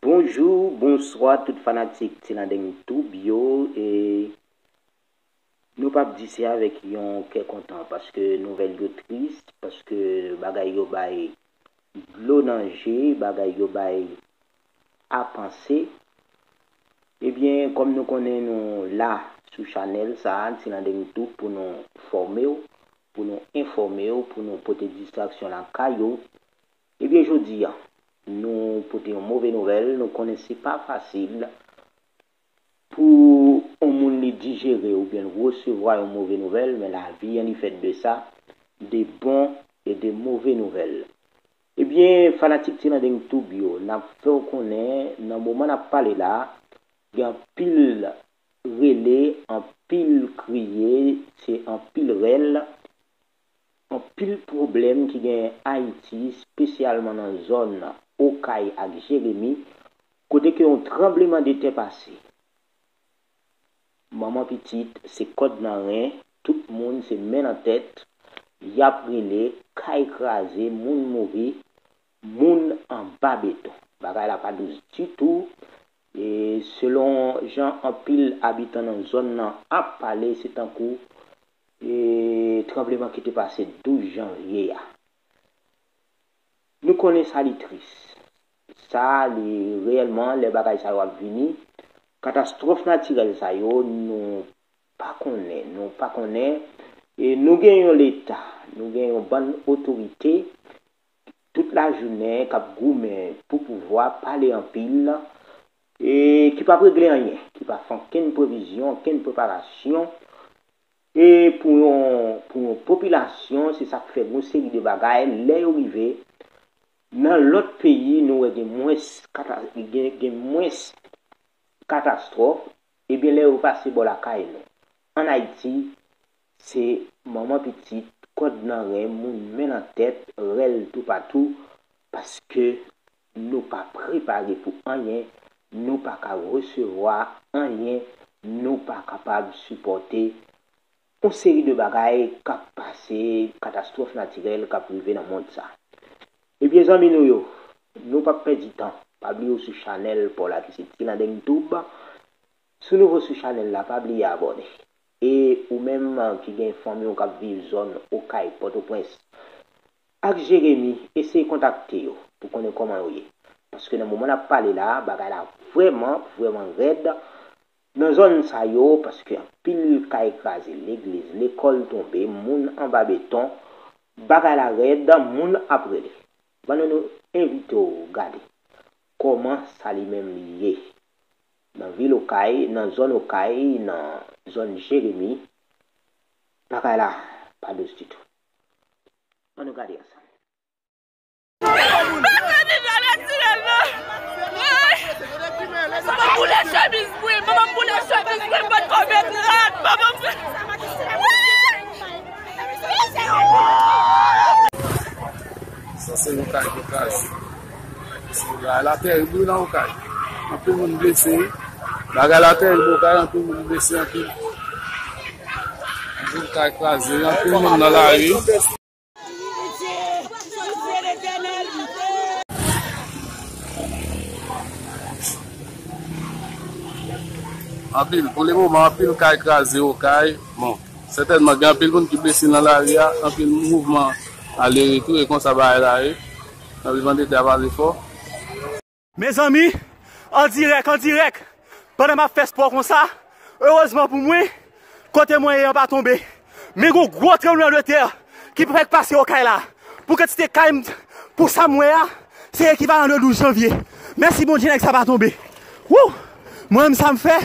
Bonjou bonswa tout fanatik tilandeng tube yo e nou pap di se avèk yon kè kontan paske nouvèl yo tris paske bagay yo bay dlo nan je bagay yo bay a panse ebyen kòm nou konnen nou la sou chanèl sa tilandeng tube pou nou fòmew pou nou enfòmew pou nou pote distraksyon lakay ou Ebyen jodi a nou pote yon move nouvèl, nou konnen se pa fasil pou yon moun li dijere oubyen l resevwa yon move nouvèl men lavi an li fèt de sa, de bon e de move nouvèl. Ebyen fanatik Tilandeng Tube yo nap fè w konnen nan moman nap pale la gen anpil rele, anpil kriye, se anpil rèl, Anpil pwoblèm ki genyen Ayiti, spesyalman nan zòn Okay ak Jeremi, kote ke yon tranbleman de tè pase. Manman pitit se kòd nan ren, tout moun se men nan tèt, yap rele, kay kraze, moun mouri, moun anba beton. Bagay la pa dous ditou, e selon jan anpil abitan nan zòn nan ap pale se tankou E tranbleman ki te pase 12 janvye a? Nou konnen sa li tris. Sa li reyèlman lè bagay sa yo ap vini, katastwòf natirèl sa yo nou pa konnen, nou pa konnen e nou gen yon leta, nou gen yon bann otorite tout lajounen k ap goumen pou pouvwa, pale anpil, e ki p ap regle anyen, ki pa fè ankenn previzyon, ankenn preparasyon e pou yon pou yon popilasyon, se sa k fè yon seri de bagay lè yo rive nan lòt peyi nou wè gen mwens kata gen gen mwens katastwòf, ebyen lè yo pase bò lakay nou. An Ayiti, se manman pitit, kòd nan ren, moun men nan tèt, rèl toupatou, paske nou pa prepare pou anyen, nou pa ka resevwa anyen, nou pa kapab sipòte yon seri de bagay k ap pase, katastwòf natirèl k ap rive nan mond sa. Ebyen zanmi nou yo, nou p ap pèdi tan, pa bliye w sou chanèl pa w la ki se Tilandeng Tube, Si w nouvo sou chanèl la pa bliye abòne. E ou menm ki gen fanmi w k ap viv zòn Okay, Pòtoprens ak Jeremi eseye kontakte yo pou konnen kòman yo ye. Paske nan moman n ap pale la bagay la vrèman vrèman rèd nan zòn sa yo paske anpil kay kraze, legliz, lekòl tonbe, moun anba beton. Bagay la rèd, moun ap rele. Ban nou nou envite w gade kòman sa li menm li ye. Nan vil Okay, nan zòn Okay, nan zòn Jeremi, bagay la pa dous ditou. An nou gade ansanm. Sa se yon kay otaj. Bagay la terib wi nan okay anpil moun blese wi. Bagay la terib okay anpil moun blese anpil. Anpil kay kraze anpil moun nan lari. Anpil pou le moman anpil kay kraze okay bon sètènman gen anpil moun ki blese nan lari a anpil mouvman ale retou e konsa bagay la ye. Nap vivan tete a pa vle fò. Mezanmi an dirèk an dirèk pandan map fè spò konsa erezman pou mwen kote mwen ye an pa tonbe men gon gwo tranbleman de tè ki prèk pase okay la pou kantite kay m pou sam wè a se ekivalan de 12 janvye mèsi Bondye nèg sa pa tonbe wouh mwen menm sam fè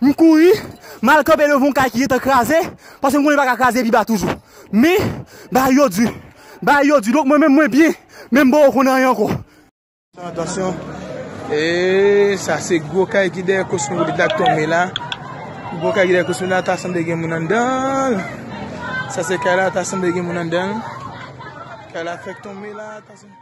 m kouri mal kanpe devan yon kay ki gentan kraze paske m konnen li paka kraze pi ba toujou men bagay yo di. Bagay yo di, donk mwen menm mwen byen, men m poko konn anyen ankò. Atansyon, eeee sa se gwo kay ki dèyè kosmopolit la k tonbe la, gwo kay ki dèyè kosmopolit la ta sanble gen moun anndanl, sa se kay la ta sanble gen moun anndanl, kay la fèk tonbe la ta sanble.